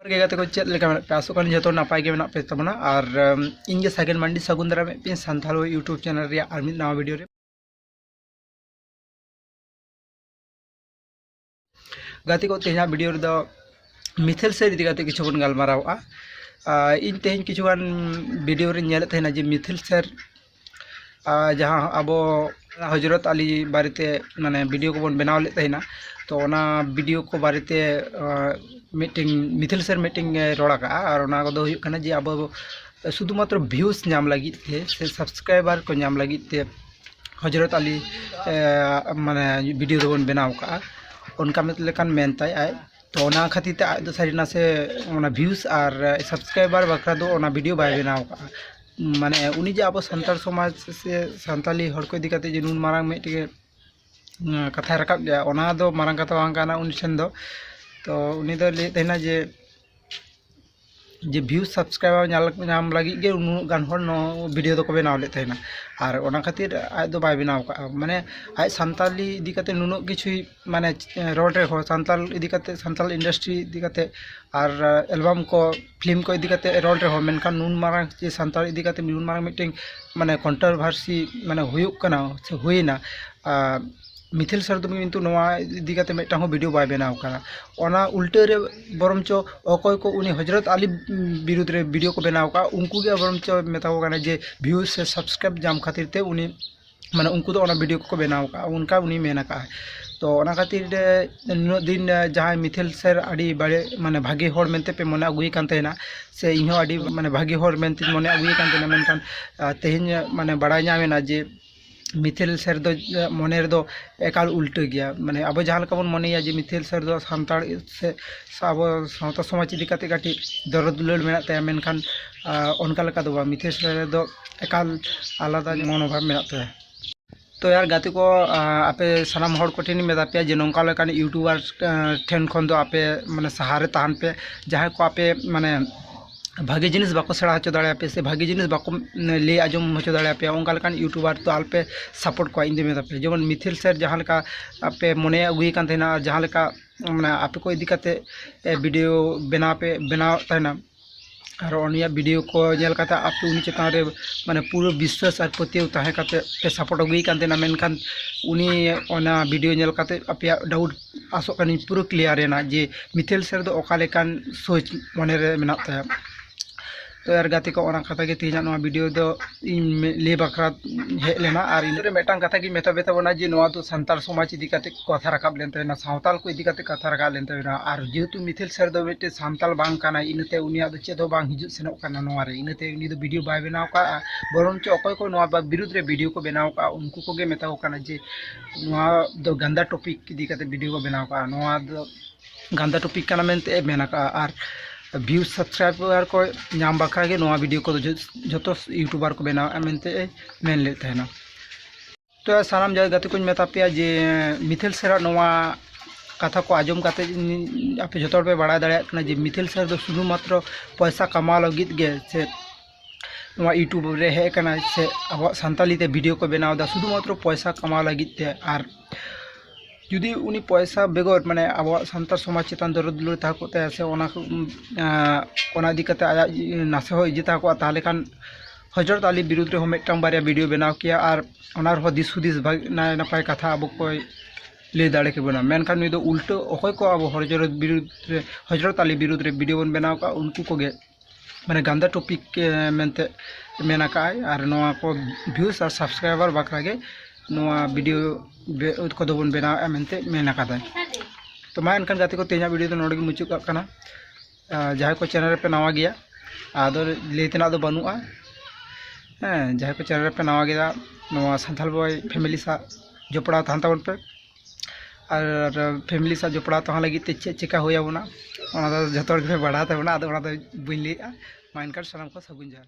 ᱜᱮ ᱜᱟᱛᱮ ᱠᱚ ᱪᱮᱫ ᱞᱮᱠᱟ ᱢᱮᱱᱟᱜ ᱯᱮ ᱟᱥᱚᱜ ᱠᱟᱱ ᱡᱚᱛᱚ ᱱᱟᱯᱟᱭ ᱜᱮ ᱢᱮᱱᱟᱜ ᱯᱮ ᱛᱟᱵᱚᱱᱟ ᱟᱨ ᱤᱧ ᱜᱮ ᱥᱟᱜᱮᱱ ᱢᱟᱱᱰᱤ ᱥᱟᱹᱜᱩᱱ ᱫᱟᱨᱟᱢ ᱮᱫ ᱯᱮ ᱥᱟᱱᱛᱟᱲ ᱤᱭᱩᱴᱩᱵᱽ ᱪᱮᱱᱮᱞ ᱨᱮᱭᱟᱜ ᱟᱨ ᱢᱤᱫ ᱱᱟᱣᱟ ᱵᱷᱤᱰᱤᱭᱳ ᱨᱮ ᱜᱟᱛᱮ ᱠᱚ ᱛᱮᱦᱮᱧᱟᱜ ᱵᱷᱤᱰᱤᱭᱳ ᱨᱮᱫᱚ ᱢᱤᱛᱷᱮᱞ ᱥᱮ ᱤᱫᱤ ᱠᱟᱛᱮ ᱠᱤᱪᱷᱩ ᱵᱚᱱ ᱜᱟᱞᱢᱟᱨᱟᱣᱼᱟ ᱤᱧ ᱛᱮᱦᱮᱧ ᱠᱤᱪᱷᱩᱜᱟᱱ ᱵᱷᱤᱰᱤᱭᱳ ᱨᱮᱧ ᱧᱮᱞᱮᱫ ᱛᱟᱦᱮᱱᱟ ᱡᱮ ᱢᱤᱛᱷᱮᱞ ᱥᱮᱨ ᱡᱟᱦᱟᱸ ᱟᱵᱚ ᱦᱚᱡᱨᱚᱛ ᱟᱞᱤ ᱵᱟᱨᱮᱛᱮ ᱢᱟᱱᱮ ᱵᱷᱤᱰᱭᱳ ᱠᱚᱵᱚᱱ ᱵᱮᱱᱟᱣ ᱞᱮᱫ ᱛᱟᱦᱮᱱᱟ ᱛᱚ ᱚᱱᱟ ᱵᱷᱤᱰᱭᱳ ᱠᱚ ᱵᱟᱨᱮᱛᱮ ᱢᱤᱫᱴᱮᱱ ᱢᱤᱛᱷᱤᱞ ᱥᱮᱨ ᱢᱤᱫᱴᱮᱱ ᱮ ᱨᱚᱲ ᱟᱠᱟᱫᱼᱟ ᱟᱨ ᱚᱱᱟ ᱠᱚᱫᱚ ᱦᱩᱭᱩᱜ ᱠᱟᱱᱟ ᱡᱮ ᱟᱵᱚ ᱥᱩᱫᱷᱩ ᱢᱟᱛᱨᱚ ᱵᱷᱤᱭᱩᱥ ᱧᱟᱢ ᱞᱟᱹᱜᱤᱫ ᱛᱮ ᱥᱮ ᱥᱟᱵᱥᱠᱨᱟᱭᱵᱟᱨ ᱠᱚ ᱧᱟᱢ ᱞᱟᱹᱜᱤᱫ ᱛᱮ ᱦᱚᱡᱨᱚᱛ ᱟᱞᱤ ᱢᱟᱱᱮ ᱵᱷᱤᱰᱭᱳ ᱫᱚᱵᱚᱱ ᱵᱮᱱᱟᱣ ᱟᱠᱟᱫᱼᱟ ᱚᱱᱠᱟ ᱢᱮᱱ ᱞᱮᱠᱟᱱ ᱢᱮᱱ ᱛᱟᱭ ᱟᱡ ᱛᱚ ᱚᱱᱟ ᱠᱷᱟᱹᱛᱤᱨ ᱛᱮ ᱟᱡ ᱫᱚ ᱥᱟᱹᱨᱤ ᱱᱟᱥᱮ ᱚᱱᱟ ᱵᱷᱤᱭᱩᱥ ᱟᱨ ᱥᱟᱵᱥᱠᱨᱟᱭᱵᱟᱨ ᱵᱟᱠᱷᱨᱟ ᱫᱚ ᱚᱱᱟ ᱵᱷᱤᱰᱭᱳ ᱵᱟᱭ ᱵᱮᱱᱟᱣ ᱟᱠᱟᱫᱼᱟ ᱢᱟᱱᱮ ᱩᱱᱤ ᱡᱮ ᱟᱵᱚ ᱥᱟᱱᱛᱟᱲ ᱥᱚᱢᱟᱡᱽ ᱥᱮ ᱥᱟᱱᱛᱟᱲᱤ ᱦᱚᱲ ᱠᱚ ᱤᱫᱤ ᱠᱟᱛᱮᱫ ᱡᱮ ᱱᱩᱱ ᱢᱟᱨᱟᱝ ᱢᱤᱫᱴᱮᱱ ᱠᱟᱛᱷᱟᱭ ᱨᱟᱠᱟᱵ ᱞᱮᱫᱼᱟ ᱚᱱᱟ ᱫᱚ ᱢᱟᱨᱟᱝ ᱠᱟᱛᱷᱟ ᱵᱟᱝ ᱠᱟᱱᱟ ᱩᱱᱤ ᱴᱷᱮᱱ ᱫᱚ ᱛᱚ ᱩᱱᱤ ᱫᱚᱭ ᱞᱟᱹᱭᱮᱫ ᱛᱟᱦᱮᱱᱟ ᱡᱮ ᱡᱮ ᱵᱷᱤᱭᱩ ᱥᱟᱵᱥᱠᱨᱟᱭᱵᱟᱨ ᱧᱟᱢ ᱞᱟᱹᱜᱤᱫ ᱜᱮ ᱩᱱᱟᱹᱜ ᱜᱟᱱ ᱦᱚᱲ ᱱᱚᱣᱟ ᱵᱷᱤᱰᱤᱭᱳ ᱫᱚᱠᱚ ᱵᱮᱱᱟᱣ ᱞᱮᱫ ᱛᱟᱦᱮᱱᱟ ᱟᱨ ᱚᱱᱟ ᱠᱷᱟᱹᱛᱤᱨ ᱟᱡ ᱫᱚ ᱵᱟᱭ ᱵᱮᱱᱟᱣ ᱠᱟᱜᱼᱟ ᱢᱟᱱᱮ ᱟᱡ ᱥᱟᱱᱛᱟᱲᱤ ᱤᱫᱤ ᱠᱟᱛᱮᱫ ᱱᱩᱱᱟᱹᱜ ᱠᱤᱪᱷᱩᱭ ᱢᱟᱱᱮ ᱨᱳᱰ ᱨᱮᱦᱚᱸ ᱥᱟᱱᱛᱟᱲ ᱤᱫᱤ ᱠᱟᱛᱮ ᱥᱟᱱᱛᱟᱲ ᱤᱱᱰᱟᱥᱴᱨᱤ ᱤᱫᱤ ᱠᱟᱛᱮ ᱟᱨ ᱮᱞᱵᱟᱢ ᱠᱚ ᱯᱷᱤᱞᱢ ᱠᱚ ᱤᱫᱤ ᱠᱟᱛᱮ ᱨᱚᱲ ᱨᱮᱦᱚᱸ ᱢᱮᱱᱠᱷᱟᱱ ᱱᱩᱱ ᱢᱟᱨᱟᱝ ᱡᱮ ᱥᱟᱱᱛᱟᱲ ᱤᱫᱤ ᱠᱟᱛᱮ ᱱᱩᱱ ᱢᱟᱨᱟᱝ ᱢᱤᱫᱴᱮᱱ ᱢᱟᱱᱮ ᱠᱚᱱᱴᱨᱚᱵᱷᱟᱨᱥᱤ ᱢᱟᱱᱮ ᱦᱩᱭᱩᱜ ᱠᱟᱱᱟ ᱥᱮ ᱦᱩᱭᱮᱱᱟ ᱢᱤᱛᱷᱤᱞ ᱥᱟᱨ ᱫᱚ ᱠᱤᱱᱛᱩ ᱱᱚᱣᱟ ᱤᱫᱤ ᱠᱟᱛᱮ ᱢᱤᱫᱴᱟᱝ ᱦᱚᱸ ᱵᱷᱤᱰᱤᱭᱳ ᱵᱟᱭ ᱵᱮᱱᱟᱣ ᱠᱟᱫᱟ ᱚᱱᱟ ᱩᱞᱴᱟᱹ ᱨᱮ ᱵᱚᱨᱚᱱᱪᱚ ᱚᱠᱚᱭ ᱠᱚ ᱩᱱᱤ ᱦᱚᱡᱨᱚᱛ ᱟᱞᱤ ᱵᱤᱨᱩᱫᱽ ᱨᱮ ᱵᱷᱤᱰᱤᱭᱳ ᱠᱚ ᱵᱮᱱᱟᱣ ᱠᱟᱜᱼᱟ ᱩᱱᱠᱩ ᱜᱮ ᱵᱚᱨᱚᱱᱪᱚ ᱢᱮᱛᱟ ᱠᱚ ᱠᱟᱱᱟ ᱡᱮ ᱵᱷᱤᱭᱩᱡᱽ ᱥᱮ ᱥᱟᱵᱥᱠᱨᱟᱭᱤᱵᱽ ᱧᱟᱢ ᱠᱷᱟᱹᱛᱤᱨ ᱛᱮ ᱩᱱᱤ ᱢᱟᱱᱮ ᱩᱱᱠᱩ ᱫᱚ ᱚᱱᱟ ᱵᱷᱤᱰᱭᱳ ᱠᱚᱠᱚ ᱵᱮᱱᱟᱣ ᱠᱟᱜᱼᱟ ᱚᱱᱠᱟ ᱩᱱᱤ ᱢᱮᱱ ᱠᱟᱜᱼᱟᱭ ᱛᱚ ᱚᱱᱟ ᱠᱷᱟᱹᱛᱤᱨ ᱛᱮ ᱱᱩᱱᱟᱹᱜ ᱫᱤᱱ ᱡᱟᱦᱟᱸᱭ ᱢᱤᱛᱷᱮᱞ ᱥᱮᱨ ᱟᱹᱰᱤ ᱵᱟᱲᱮ ᱢᱟᱱᱮ ᱵᱷᱟᱜᱮ ᱦᱚᱲ ᱢᱮᱱᱛᱮ ᱯᱮ ᱢᱚᱱᱮ ᱟᱜᱩᱭᱮ ᱠᱟᱱ ᱛᱟᱦᱮᱱᱟ ᱥᱮ ᱤᱧ ᱦᱚᱸ ᱟᱹᱰᱤ ᱢᱟᱱᱮ ᱵᱷᱟᱜᱮ ᱦᱚᱲ ᱢᱮᱱᱛᱮᱧ ᱢᱚᱱᱮ ᱟᱜᱩᱭᱮ ᱠᱟᱱ ᱛᱟᱦᱮᱱᱟ ᱢᱮᱱᱠᱷᱟᱱ ᱛᱮᱦᱮᱧ ᱢᱟᱱᱮ ᱵᱟᱲᱟᱭ ᱧᱟᱢᱮᱱᱟ ᱡᱮ ᱢᱤᱛᱷᱮᱞ ᱥᱮᱨ ᱫᱚ ᱢᱚᱱᱮ ᱨᱮᱫᱚ ᱮᱠᱟᱞ ᱩᱞᱴᱟᱹ ᱜᱮᱭᱟ ᱢᱟᱱᱮ ᱟᱵᱚ ᱡᱟᱦᱟᱸ ᱞᱮᱠᱟ ᱵᱚᱱ ᱢᱚᱱᱮᱭᱟ ᱡᱮ ᱢᱤᱛᱷᱮᱞ ᱥᱮᱨ ᱫᱚ ᱥᱟᱱᱛᱟᱲ ᱥᱮ ᱟᱵᱚ ᱥᱟᱶᱛᱟ ᱥᱚᱢᱟᱡᱽ ᱤᱫᱤ ᱠᱟᱛᱮ ᱠᱟᱹᱴᱤᱡ ᱫᱚᱨᱚᱫ ᱫᱩᱞᱟᱹᱲ ᱢᱮᱱᱟᱜ ᱛᱟᱭᱟ ᱢᱮᱱᱠᱷᱟᱱ ᱚᱱᱠᱟ ᱞᱮᱠᱟ ᱫᱚ ᱵᱟᱝ ᱢᱤᱛᱷᱮᱞ ᱥᱮᱨ ᱫᱚ ᱮᱠᱟᱞ ᱟᱞᱟᱫᱟ ᱢᱚᱱᱳᱵᱷᱟᱵᱽ ᱢᱮᱱᱟᱜ ᱛᱟᱭᱟ ᱛᱚ ᱭᱟᱨ ᱜᱟᱛᱮ ᱠᱚ ᱟᱯᱮ ᱥᱟᱱᱟᱢ ᱦᱚᱲ ᱠᱚᱴᱷᱮᱱᱤᱧ ᱢᱮᱛᱟ ᱯᱮᱭᱟ ᱡᱮ ᱱᱚᱝᱠᱟ ᱞᱮᱠᱟᱱ ᱤᱭᱩᱴᱩᱵᱟᱨ ᱴᱷᱮᱱ ᱠᱷᱚᱱ ᱫᱚ ᱟᱯᱮ ᱢᱟᱱᱮ ᱥᱟᱦᱟ ᱨᱮ ᱛᱟᱦᱮᱱ ᱯᱮ ᱡᱟᱦᱟᱸᱭ ᱠᱚ ᱟᱯᱮ ᱢᱟᱱᱮ ᱵᱷᱟᱜᱮ ᱡᱤᱱᱤᱥ ᱵᱟᱠᱚ ᱥᱮᱬᱟ ᱦᱚᱪᱚ ᱫᱟᱲᱮᱭᱟᱯᱮ ᱥᱮ ᱵᱷᱟᱜᱮ ᱡᱤᱱᱤᱥ ᱵᱟᱠᱚ ᱞᱟᱹᱭ ᱟᱸᱡᱚᱢ ᱦᱚᱪᱚ ᱫᱟᱲᱮᱭᱟᱯᱮᱭᱟ ᱚᱱᱠᱟ ᱞᱮᱠᱟᱱ ᱤᱭᱩᱴᱩᱵᱟᱨ ᱫᱚ ᱟᱞᱚᱯᱮ ᱥᱟᱯᱳᱨᱴ ᱠᱚᱣᱟ ᱤᱧᱫᱩᱧ ᱢᱮᱛᱟ ᱯᱮᱭᱟ ᱡᱮᱢᱚᱱ ᱢᱤᱛᱷᱤᱞ ᱥᱮᱨ ᱡᱟᱦᱟᱸ ᱞᱮᱠᱟ ᱟᱯᱮ ᱢᱚᱱᱮ ᱟᱹᱜᱩᱭᱮ ᱠᱟᱱ ᱛᱟᱦᱮᱱᱟ ᱟᱨ ᱡᱟᱦᱟᱸ ᱞᱮᱠᱟ ᱢᱟᱱᱮ ᱟᱯᱮ ᱠᱚ ᱤᱫᱤ ᱠᱟᱛᱮᱫ ᱵᱷᱤᱰᱤᱭᱳ ᱵᱮᱱᱟᱣ ᱯᱮ ᱵᱮᱱᱟᱣᱮᱫ ᱛᱟᱦᱮᱱᱟ ᱟᱨ ᱩᱱᱤᱭᱟᱜ ᱵᱷᱤᱰᱤᱭᱳ ᱠᱚ ᱧᱮᱞ ᱠᱟᱛᱮ ᱟᱯᱮ ᱩᱱᱤ ᱪᱮᱛᱟᱱ ᱨᱮ ᱢᱟᱱᱮ ᱯᱩᱨᱟᱹ ᱵᱤᱥᱥᱟᱥ ᱟᱨ ᱯᱟᱹᱛᱭᱟᱹᱣ ᱛᱟᱦᱮᱸ ᱠᱟᱛᱮ ᱯᱮ ᱥᱟᱯᱳᱨᱴ ᱟᱹᱜᱩᱭᱮ ᱠᱟᱱ ᱛᱟᱦᱮᱱᱟ ᱢᱮᱱᱠᱷᱟᱱ ᱩᱱᱤ ᱚᱱᱟ ᱵᱷᱤᱰᱤᱭᱳ ᱧᱮᱞ ᱠᱟᱛᱮ ᱟᱯᱮᱭᱟᱜ ᱰᱟᱣᱩᱴ ᱟᱥᱚᱜ ᱠᱟᱹᱱᱟᱹᱧ ᱯᱩᱨᱟᱹ ᱠᱞᱤᱭᱟᱨ ᱮᱱᱟ ᱡᱮ ᱢᱤᱛᱟᱞ ᱥᱮᱨ ᱫᱚ ᱚᱠᱟ ᱞᱮᱠᱟᱱ ᱥᱳᱪ ᱢᱚᱱᱮ ᱨᱮ ᱢᱮᱱᱟᱜ ᱛᱟᱭᱟ ᱛᱚ ᱟᱨ ᱜᱟᱛᱮ ᱠᱚ ᱚᱱᱟ ᱠᱟᱛᱷᱟ ᱜᱮ ᱛᱮᱦᱮᱧᱟᱜ ᱱᱚᱣᱟ ᱵᱷᱤᱰᱤᱭᱳ ᱫᱚ ᱤᱧ ᱞᱟᱹᱭ ᱵᱟᱠᱷᱨᱟ ᱦᱮᱡ ᱞᱮᱱᱟ ᱟᱨ ᱤᱧ ᱢᱤᱫᱴᱟᱝ ᱠᱟᱛᱷᱟ ᱜᱤᱧ ᱢᱮᱛᱟ ᱯᱮ ᱛᱟᱵᱚᱱᱟ ᱡᱮ ᱱᱚᱣᱟ ᱫᱚ ᱥᱟᱱᱛᱟᱲ ᱥᱚᱢᱟᱡᱽ ᱤᱫᱤ ᱠᱟᱛᱮ ᱠᱟᱛᱷᱟ ᱨᱟᱠᱟᱵ ᱞᱮᱱ ᱛᱟᱵᱮᱱᱟ ᱥᱟᱶᱛᱟᱞ ᱠᱚ ᱤᱫᱤ ᱠᱟᱛᱮ ᱠᱟᱛᱷᱟ ᱨᱟᱠᱟᱵ ᱞᱮᱱ ᱛᱟᱵᱮᱱᱟ ᱟᱨ ᱡᱮᱦᱮᱛᱩ ᱢᱤᱛᱷᱤᱞ ᱥᱮᱨ ᱫᱚ ᱢᱤᱫᱴᱮᱱ ᱥᱟᱱᱛᱟᱞ ᱵᱟᱝ ᱠᱟᱱᱟᱭ ᱤᱱᱟᱹᱛᱮ ᱩᱱᱤᱭᱟᱜ ᱫᱚ ᱪᱮᱫ ᱦᱚᱸ ᱵᱟᱝ ᱦᱤᱡᱩᱜ ᱥᱮᱱᱚᱜ ᱠᱟᱱᱟ ᱱᱚᱣᱟ ᱨᱮ ᱤᱱᱟᱹᱛᱮ ᱩᱱᱤ ᱫᱚ ᱵᱷᱤᱰᱤᱭᱳ ᱵᱟᱭ ᱵᱮᱱᱟᱣ ᱠᱟᱜᱼᱟ ᱵᱚᱨᱚᱝ ᱪᱚ ᱚᱠᱚᱭ ᱠᱚ ᱱᱚᱣᱟ ᱵᱤᱨᱩᱫᱽ ᱨᱮ ᱵᱷᱤᱰᱤᱭᱳ ᱠᱚ ᱵᱮᱱᱟᱣ ᱠᱟᱜᱼᱟ ᱩᱱᱠᱩ ᱠᱚᱜᱮ ᱢᱮᱛᱟ ᱠᱚ ᱠᱟᱱᱟ ᱡᱮ ᱱᱚᱣᱟ ᱫᱚ ᱜᱟᱱᱫᱟ ᱴᱚᱯᱤᱠ ᱤᱫᱤ ᱠᱟᱛᱮ ᱵᱷᱤᱰᱤᱭᱳ ᱠᱚ ᱵᱮᱱᱟᱣ ᱠᱟᱜᱼᱟ ᱱᱚᱣᱟ ᱫᱚ ᱜᱟᱱᱫᱟ ᱴᱚᱯᱤᱠ ᱠᱟᱱᱟ ᱢᱮᱱᱛᱮ ᱢᱮᱱ ᱟᱠᱟᱜᱼᱟ ᱟᱨ ᱵᱷᱤᱭᱩ ᱥᱟᱵᱥᱠᱨᱟᱭᱵᱟᱨ ᱠᱚ ᱧᱟᱢ ᱵᱟᱠᱷᱨᱟ ᱜᱮ ᱱᱚᱣᱟ ᱵᱷᱤᱰᱤᱭᱳ ᱠᱚᱫᱚ ᱡᱚᱛᱚ ᱤᱭᱩᱴᱩᱵᱟᱨ ᱠᱚ ᱵᱮᱱᱟᱣᱮᱜᱼᱟ ᱢᱮᱱᱛᱮ ᱢᱮᱱ ᱞᱮᱫ ᱛᱟᱦᱮᱱᱟ ᱛᱚ ᱥᱟᱱᱟᱢ ᱡᱟᱭᱜᱟ ᱜᱟᱛᱮ ᱠᱚᱧ ᱢᱮᱛᱟ ᱯᱮᱭᱟ ᱡᱮ ᱢᱤᱛᱷᱮᱞ ᱥᱮᱨᱟᱜ ᱱᱚᱣᱟ ᱠᱟᱛᱷᱟ ᱠᱚ ᱟᱸᱡᱚᱢ ᱠᱟᱛᱮ ᱟᱯᱮ ᱡᱚᱛᱚ ᱦᱚᱲ ᱯᱮ ᱵᱟᱲᱟᱭ ᱫᱟᱲᱮᱭᱟᱜ ᱠᱟᱱᱟ ᱡᱮ ᱢᱤᱛᱷᱮᱞ ᱥᱮᱨ ᱫᱚ ᱥᱩᱫᱷᱩ ᱢᱟᱛᱨᱚ ᱯᱚᱭᱥᱟ ᱠᱟᱢᱟᱣ ᱞᱟᱹᱜᱤᱫ ᱜᱮ ᱥᱮ ᱱᱚᱣᱟ ᱤᱭᱩᱴᱩᱵᱽ ᱨᱮ ᱦᱮᱡ ᱟᱠᱟᱱᱟ ᱥᱮ ᱟᱵᱚᱣᱟᱜ ᱥᱟᱱᱛᱟᱞᱤ ᱛᱮ ᱵᱷᱤᱰᱤᱭᱳ ᱠᱚ ᱵᱮᱱᱟᱣ ᱮᱫᱟ ᱥᱩᱫᱷᱩ ᱢᱟᱛᱨᱚ ᱯᱚᱭᱥᱟ ᱠᱟᱢᱟᱣ ᱞᱟᱹᱜᱤᱫ ᱛᱮ ᱟᱨ ᱡᱩᱫᱤ ᱩᱱᱤ ᱯᱚᱭᱥᱟ ᱵᱮᱜᱚᱨ ᱢᱟᱱᱮ ᱟᱵᱚᱣᱟᱜ ᱥᱟᱱᱛᱟᱲ ᱥᱚᱢᱟᱡᱽ ᱪᱮᱛᱟᱱ ᱫᱚᱨᱚᱫ ᱫᱩᱞᱟᱹᱲ ᱛᱟᱦᱮᱸ ᱠᱚᱜ ᱛᱟᱭᱟ ᱥᱮ ᱚᱱᱟ ᱚᱱᱟ ᱤᱫᱤ ᱠᱟᱛᱮ ᱟᱭᱟᱜ ᱱᱟᱥᱮ ᱦᱚᱸ ᱤᱭᱟᱹ ᱛᱟᱦᱮᱸ ᱠᱚᱜᱼᱟ ᱛᱟᱦᱚᱞᱮ ᱠᱷᱟᱱ ᱦᱚᱡᱨᱚᱛ ᱟᱞᱤ ᱵᱤᱨᱩᱫᱽ ᱨᱮᱦᱚᱸ ᱢᱤᱫᱴᱟᱝ ᱵᱟᱨᱭᱟ ᱵᱷᱤᱰᱤᱭᱳ ᱵᱮᱱᱟᱣ ᱠᱮᱭᱟ ᱟᱨ ᱚᱱᱟ ᱨᱮᱦᱚᱸ ᱫᱤᱥ ᱦᱩᱫᱤᱥ ᱱᱟᱭ ᱱᱟᱯᱟᱭ ᱠᱟᱛᱷᱟ ᱟᱵᱚ ᱠᱚᱭ ᱞᱟᱹᱭ ᱫᱟᱲᱮ ᱠᱮᱵᱚᱱᱟ ᱢᱮᱱᱠᱷᱟᱱ ᱱᱩᱭ ᱫᱚ ᱩᱞᱴᱟᱹ ᱚᱠᱚᱭ ᱠᱚ ᱟᱵᱚ ᱦᱚᱡᱨᱚᱛ ᱵᱤᱨᱩᱫᱽ ᱨᱮ ᱦᱚᱡᱨᱚᱛ ᱟᱞᱤ ᱵᱤᱨᱩᱫᱽ ᱨᱮ ᱵᱷᱤᱰᱤᱭᱳ ᱵᱚᱱ ᱵᱮᱱᱟᱣ ᱠᱟᱜᱼᱟ ᱩᱱᱠᱩ ᱠᱚᱜᱮ ᱢᱟᱱᱮ ᱜᱟᱱᱫᱟ ᱴᱚᱯᱤᱠ ᱢᱮᱱᱛᱮ ᱢᱮᱱ ᱟᱠᱟᱫᱼᱟᱭ ᱟᱨ ᱱᱚᱣᱟ ᱠᱚ ᱵᱷᱤᱭᱩᱥ ᱟᱨ ᱥᱟᱵᱥᱠᱨᱟᱭᱵᱟᱨ ᱵᱟᱠᱷᱨᱟ ᱜᱮ ᱱᱚᱣᱟ ᱵᱷᱤᱰᱤᱭᱳ ᱠᱚᱫᱚ ᱵᱚᱱ ᱵᱮᱱᱟᱣᱮᱫᱼᱟ ᱢᱮᱱᱛᱮ ᱢᱮᱱ ᱟᱠᱟᱫᱟᱭ ᱛᱚ ᱢᱟ ᱮᱱᱠᱷᱟᱱ ᱜᱟᱛᱮ ᱠᱚ ᱛᱮᱦᱮᱧᱟᱜ ᱵᱷᱤᱰᱤᱭᱳ ᱫᱚ ᱱᱚᱰᱮ ᱜᱮ ᱢᱩᱪᱟᱹᱫ ᱠᱟᱜ ᱠᱟᱱᱟ ᱡᱟᱦᱟᱸᱭ ᱠᱚ ᱪᱮᱱᱮᱞ ᱨᱮᱯᱮ ᱱᱟᱣᱟ ᱜᱮᱭᱟ ᱟᱫᱚ ᱞᱟᱹᱭ ᱛᱮᱱᱟᱜ ᱫᱚ ᱵᱟᱹᱱᱩᱜᱼᱟ ᱦᱮᱸ ᱡᱟᱦᱟᱸᱭ ᱠᱚ ᱪᱮᱱᱮᱞ ᱨᱮᱯᱮ ᱱᱟᱣᱟ ᱜᱮᱭᱟ ᱱᱚᱣᱟ ᱥᱟᱱᱛᱷᱟᱞ ᱵᱚᱭ ᱯᱷᱮᱢᱮᱞᱤ ᱥᱟᱶ ᱡᱚᱯᱲᱟᱣ ᱛᱟᱦᱮᱱ ᱛᱟᱵᱚᱱ ᱯᱮ ᱟᱨ ᱯᱷᱮᱢᱮᱞᱤ ᱥᱟᱶ ᱡᱚᱯᱲᱟᱣ ᱛᱟᱦᱮᱱ ᱞᱟᱹᱜᱤᱫ ᱛᱮ ᱪᱮᱫ ᱪᱮᱠᱟ ᱦᱩᱭ ᱟᱵᱚᱱᱟ ᱚᱱᱟ ᱫᱚ ᱡᱚᱛᱚ ᱦᱚᱲ ᱜᱮᱯᱮ ᱵᱟᱲᱟᱭ ᱛᱟᱵᱚᱱᱟ ᱟᱫᱚ ᱚᱱᱟ ᱫᱚ ᱵᱟᱹᱧ ᱞᱟᱹᱭᱮᱜᱼᱟ ᱢᱟ ᱮᱱᱠᱷᱟᱱ ᱥᱟᱱᱟᱢ ᱠᱚ ᱥᱟᱹᱜᱩᱱ ᱡᱚᱦᱟᱨ